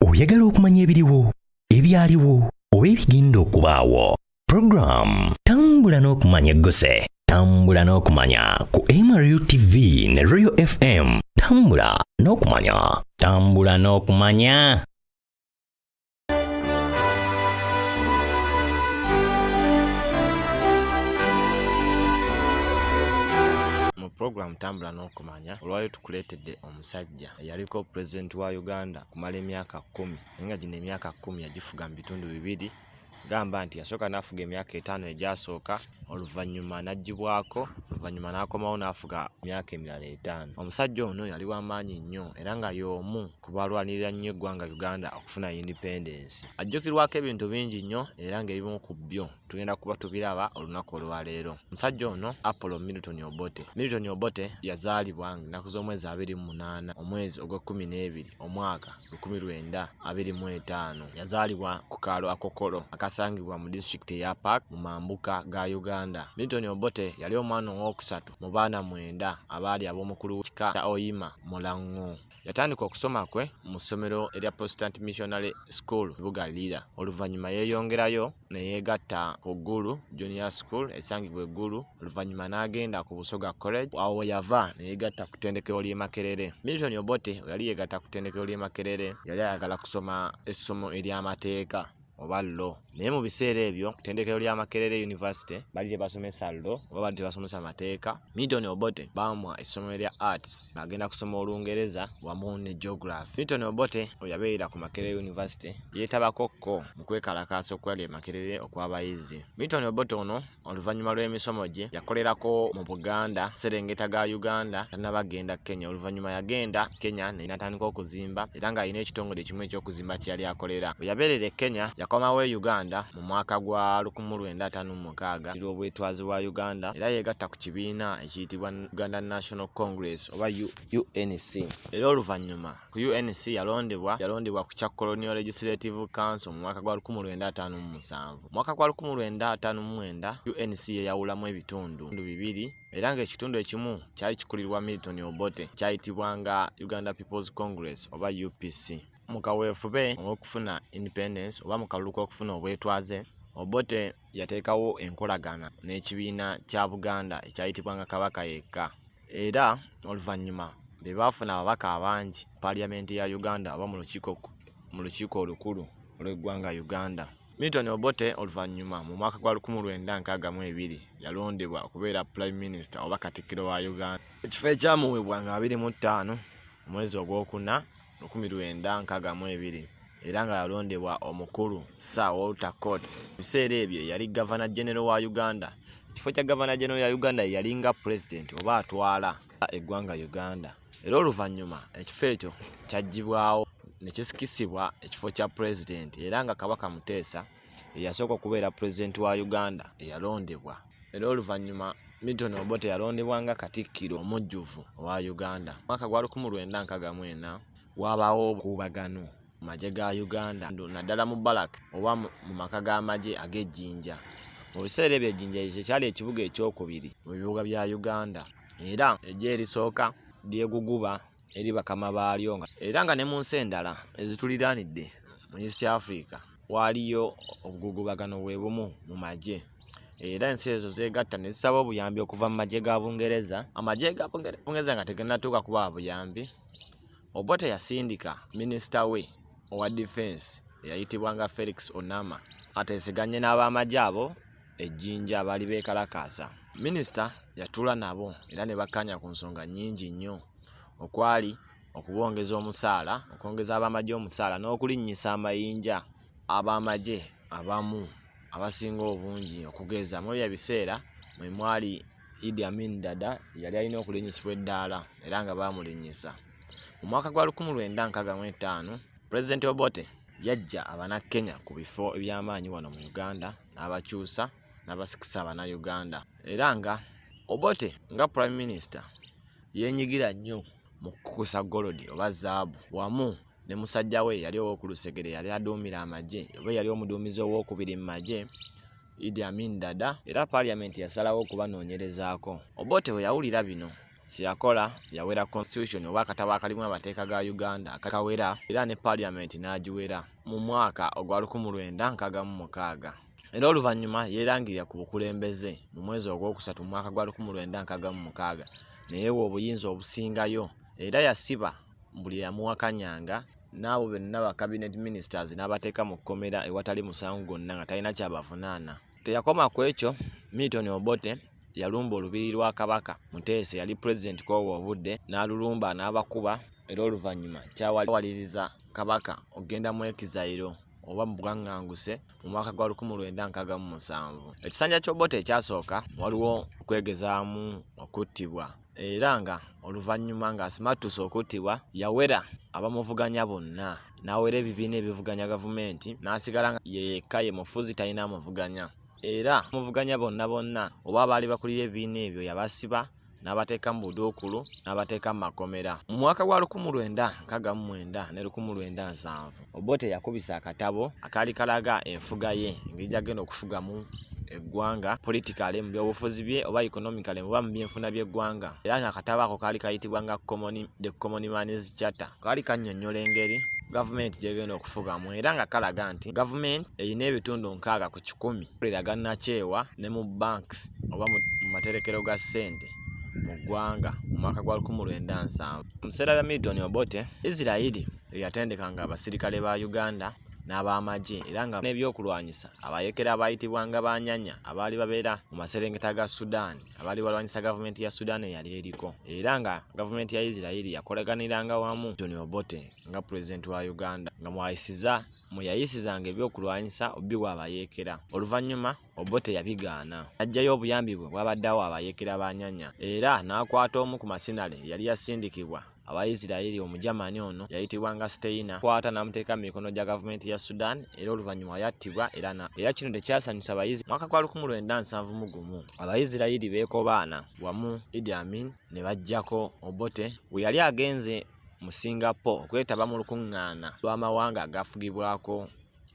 oyagala okumanya ebiriwo ebyaliwo oba ebigenda okubaawo puroguramu tambula n'okumanya egguse tambula n'okumanya ku mru tv ne royal fm tambula n'okumanya tambula n'okumanya mu puroguramu tambula n'okumanya olwali tukuleetedde omusajja eyaliko president wa uganda kumala emyaka kumi naye nga gino emyaka kumi yagifuga mu bitundu bibiri gamba nti yasooka n'afuga emyaka etaano egyasooka oluvannyuma n'aggyibwako oluvannyuma n'akomawo n'afuga emyaka emirala etaano omusajja ono yali w'amaanyi nnyo era nga y'omu ku balwanirira nnyo eggwanga uganda okufuna independence ajjukirwako ebintu bingi nnyo era ng'ebimu ku byo tugenda kuba tubiraba olunaku olwaleero musajja ono apollo milton obote milton obote yazaalibwa ennaku z'omwezi abiri mu munaana omwezi ogw'ekkumi n'ebiri omwaka lukumi lwenda abiri mu etaano yazaalibwa ku kaalo akokolo akasangibwa mu disitulikiti eya park mu mambuka ga uganda milton obote yali omwana ow'okusatu mu baana mwenda abaali ab'omukulu w'ekika kya oyima mulango Yatandika okusoma kwe mu ssomero erya Protestant Missionary School Buga Lira. Oluvannyuma yeeyongerayo ne yeegatta ku Gulu Junior School esangibwa e Gulu. Oluvannyuma n'agenda ku Busoga College. Awo we yava ne yeegatta ku ttendekero ly'e Makerere. Milton Obote we yali yeegatta ku ttendekero ly'e Makerere yali ayagala kusoma essomo ery'amateeka. oba lo naye mu biseera ebyo kutendekero lya makerere university bali tebasomesa lo oba bali tebasomesa mateeka milton obote bamwa essomero lya arts agenda kusoma olungereza wamu ne geography milton obote oyabeerera ku makerere university yeetabakokko mu kwekalakaasa okwali e makerere okw'abayizi milton obote ono oluvannyuma lw'emisomo gye yakolerako mu buganda serengeta ga uganda tanaba genda kenya oluvannyuma yagenda kenya natandika okuzimba era ng'alina ekitongole ekimu ekyokuzimba kye yali akolera bwe yabeerera e kenya yakomawo e uganda mu mwaka gwa 1956 lw'obwetwazi bwa uganda era yeegatta ku kibiina ekiyitibwa uganda national congress oba unc era oluvannyuma ku UNC yalondebwa yalondebwa ku kya Colonial Legislative Council mu mwaka gwa 1957. Mu mwaka gwa 1959 UNC yeyawulamu ebitundu bibiri era ng'ekitundu ekimu kyali kikulirwa Milton Obote kyayitibwanga Uganda People's Congress oba UPC. Mu kaweefube ow'okufuna independence oba mu kalulu k'okufuna obwetwaze Obote yateekawo enkolagana n'ekibiina kya buganda ekyayitibwanga kabaka yekka era oluvannyuma be baafuna ababaka abangi paliyamenti ya uganda oba mu lukiiko olukulu olw'eggwanga uganda milton obote oluvannyuma mu mwaka gwa 1962 yalondebwa okubeera prime minister oba katikkiro wa uganda ekifo ekyamuweebwa nga 25 omwezi ogwokuna lukumi lwenda nkaaga mu ebiri era nga yalondebwa omukulu Sir Walter Court. Mu biseera ebyo yali gavana genero wa Uganda. Ekifo kya gavana genero ya Uganda ye yali nga pulezidenti oba atwala eggwanga Uganda. Era oluvannyuma ekifo ekyo kyaggyibwawo ne kisikisibwa ekifo kya pulezidenti era nga Kabaka Muteesa eyasooka okubeera pulezidenti wa Uganda eyalondebwa era oluvannyuma Milton Obote yalondebwa nga Katikkiro omujjuvu owa Uganda. Mwaka gwa 1964 waabaawo obukuubagano mu magye ga Uganda naddala mu Balak oba mu maka g'amagye ag'e Jinja. Mu biseera ebyo Jinja kye kyali ekibuga ekyokubiri mu bibuga bya Uganda era eggye erisooka ly'eguguba eri bakama baalyo era nga ne mu nsi endala ezituliraanidde mu east africa waaliyo obugugubagano bwe bumu mu magye era ensi ezo zeegatta ne zisaba obuyambi okuva mu magye ga bungereza amagye ga bungereza nga teganatuuka kuba buyambi obote yasindika minisita we owa difensi eyayitibwanga felix onama ateeseganye n'abamagye abo ejjinja abaali beekalakaasa minisita yatuula nabo era ne bakkaanya ku nsonga nnyingi nnyo okwali okubongeza omusaala okwongeza ab'amagye omusaala n'okulinnyisa amayinja ab'amagye abamu abasinga obungi okugeza mu ebyo ebiseera mwe mwali idi amin dada yali alina okulinnyisibwa eddaala era nga baamulinnyisa mu mwaka gwa 1965 pulezidenti obote yajja abanakkenya ku bifo eby'amaanyi wano mu uganda n'abakyusa n'abasikisa Bannayuganda era nga Obote nga Prime Minister yeenyigira nnyo mu kukusa golodi oba zaabu wamu ne musajja we yali ow'okulusegere yali aduumira amagye oba yali omuduumizi ow'okubiri mu magye Idi Amin Dada era Parliament yasalawo okubanoonyerezaako. Obote bwe yawulira bino kyeyakola yawera constitution oba akatabo akalimu amateeka ga uganda akakawera era ne parliament n'agiwera mu mwaka ogwa lukumu lwenda nkaaga mu mukaaga era oluvannyuma yeerangirira ku bukulembeze mu mwezi ogwokusatu mu mwaka gwa lukumu lwenda nkaaga mu mukaaga neyewa obuyinza obusingayo era yasiba buli yamuwakanyanga n'abo benna ba cabinet ministers n'abateeka mu kkomera ewatali musango gwonna nga talina kyabavunaana teyakoma ku ekyo milton obote yalumba olubiri lwa kabaka muteesa yali pulezidenti kwobwo obudde n'alulumba n'abakuba era oluvannyuma kyawaliriza kabaka okugenda mu ekizayiro oba mu bwaŋŋanguse mu mwaka gwa 1967 ekisanja ky'obote ekyasooka waliwo okwegezaamu okuttibwa era nga oluvannyuma ng'asimattuse okuttibwa yawera abamuvuganya bonna n'awera ebibiina ebivuganya gavumenti n'asigala nga yeyekka ye mufuzi talina amuvuganya era muvuganya bonna bonna oba abaali bakulira ebibiina ebyo yabasiba n'abateeka mu buduukulu n'abateeka mu makomera mu mwaka gwa lukumu lwenda nkaga mu mwenda ne lukumu lwenda nsanvu obote yakubisa akatabo akaali kalaga enfuga ye engeri gyagenda okufugamu eggwanga politikale mu byobufuzi bye oba economicale oba mu byenfuna by'eggwanga era nga akatabo ako kaali kayitibwa nga the common mans charter kaali kannyonnyola engeri gavumenti gyegenda okufugamu era nga kalaga nti gavumenti erina ebitundu nkaaga ku kikumi kulira gannakyewa ne mu banks oba mu materekero ga ssente mu ggwanga mu mwaka gwa 1997 mu biseera bya milton obote isirairi eyatendekanga abasirikale ba uganda n'ab'amagye era nga n'ebyokulwanyisa abayekera abaayitibwanga banyanya abaali babeera mu maserengeta ga sudan abaali balwanyisa gavumenti ya sudan eyali eriko era nga gavumenti ya isirairi yakolaganiranga wamu tony obote nga pulezidenti wa uganda nga mwayisiza mwe yayisizanga ebyokulwanyisa obiwa abayeekera oluvannyuma obote yabigaana ajjayo obuyambi bwe bwabaddeawo abayeekera ba nyanya era n'akwata omu ku masinale yali yasindikibwa awa Isiraeri Omujamani ono yayitibwanga Steina kwata n'amuteeka mu mikono gya gavumenti ya Sudan era oluvannyuma yattibwa era na era kino tekyasanyusa abayizi mwaka gwa lukumi lwenda nsanvu mu gumu abayisirayiri beekobaana wamu Idi Amin ne baggyako Obote we yali agenze mu Singapore okwetaba mu lukuŋŋaana lw'amawanga agafugibwako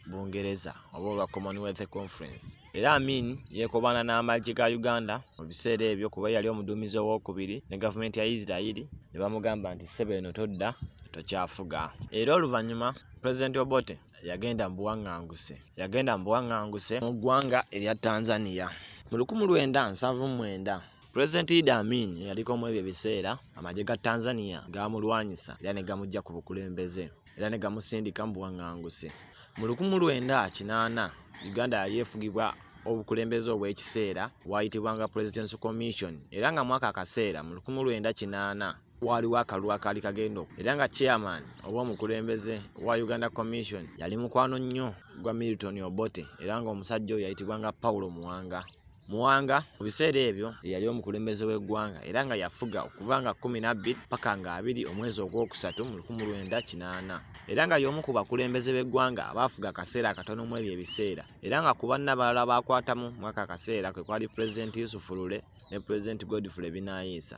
Bungereza oba olwa Commonwealth Conference. Era Amin yeekobaana n'amagye ga Uganda mu biseera ebyo kuba yali omuduumizi owookubiri ne gavumenti ya Yisirayiri ne bamugamba nti ssebo eno todda tokyafuga. Era oluvannyuma Pulezidenti Obote yagenda mu buwaŋŋanguse yagenda mu buwaŋŋanguse mu ggwanga erya Tanzania mu lukumi lwenda nsanvu mwenda Pulezidenti Idi Amin eyaliko mu ebyo ebiseera amagye ga Tanzania gaamulwanyisa era ne gamuggya ku bukulembeze. era ne gamusindika mu buwaŋŋanguse. Mu lukumu lwenda kinaana Uganda yali efugibwa obukulembeze obw'ekiseera waayitibwanga President's Commission era nga mwaka akaseera mu lukumu lwenda kinaana waaliwo akalulu akaali kagenda oku era nga chairman oba omukulembeze wa Uganda Commission yali mukwano nnyo gwa Milton Obote era ng'omusajja oyo yayitibwanga Paulo Muwanga. Muwanga mu biseera ebyo yali omukulembeze w'eggwanga era nga yafuga okuva nga kkumi n'abbiri paka nga abiri omwezi ogwokusatu mu lukumu lwenda kinaana era nga y'omu ku bakulembeze b'eggwanga abaafuga akaseera akatono mu ebyo ebiseera era nga ku banna balala baakwatamu mwaka akaseera kwe kwali pulezidenti yusufu lule ne pulezidenti godfrey binaayiisa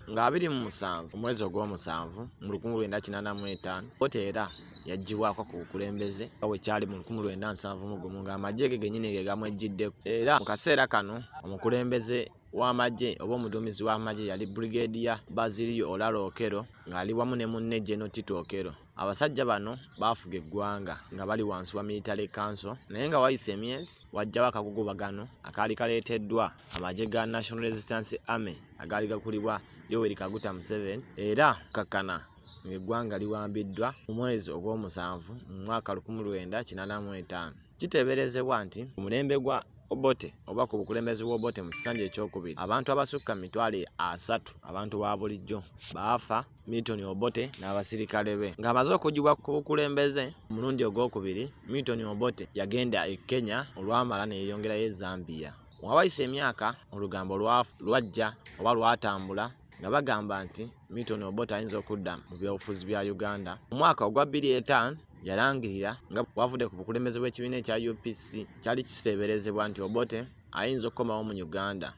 nga abiri mu musanvu omwezi ogw'omusanvu mu lukumi lwenda kinana mu etaano kkooti era yagibwako ku bukulembeze nga bwe kyali mu lukumi lwenda nsanvu mu gumu ng'amagye ge genyini ge gamwejjidde era mu kaseera kano omukulembeze w'amagye oba omuduumizi w'amagye yali brigadier baziriyo olaro okero ng'ali wamu ne munne geno tito okero Abasajja bano baafuga eggwanga nga bali wansi wa military council naye nga wayise emyezi wajjawo akagugubagano akaali kaleeteddwa amagye ga National Resistance Army agaali gakulibwa Yoweri Kaguta Museveni era kakkana ng'eggwanga liwambiddwa mu mwezi ogw'omusanvu mu mwaka lukumi lwenda kinaana mu etaano kiteeberezebwa nti omulembe gwa Obote oba ku bukulembeze bw'Obote mu kisanja ekyokubiri abantu abasukka mu mitwalo asatu abantu ba bulijjo baafa Milton Obote n'abasirikale be. Ng'amaze okugibwa ku bukulembeze omulundi ogwokubiri, Milton Obote yagenda e Kenya olwamala ne yeeyongerayo e Zambia. Wawayise emyaka olugambo lwajja oba lwatambula nga bagamba nti Milton Obote ayinza okudda mu byobufuzi bya Uganda. Mu mwaka ogwa bbiri etaano yalangirira nga bwavudde ku bukulembeze bw'ekibiina ekya UPC kyali kiteeberezebwa nti Obote ayinza okukomawo mu Uganda.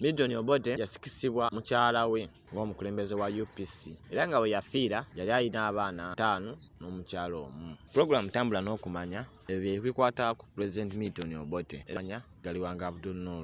Milton Obote yasikisibwa mukyala we ng'omukulembeze wa UPC era nga bwe yafiira yali alina abaana ataano n'omukyala omu. Pulogulaamu Tambula n'Okumanya ebyo ebikwata ku Pulezidenti Milton Obote emanya galiwanga Abdul Noor.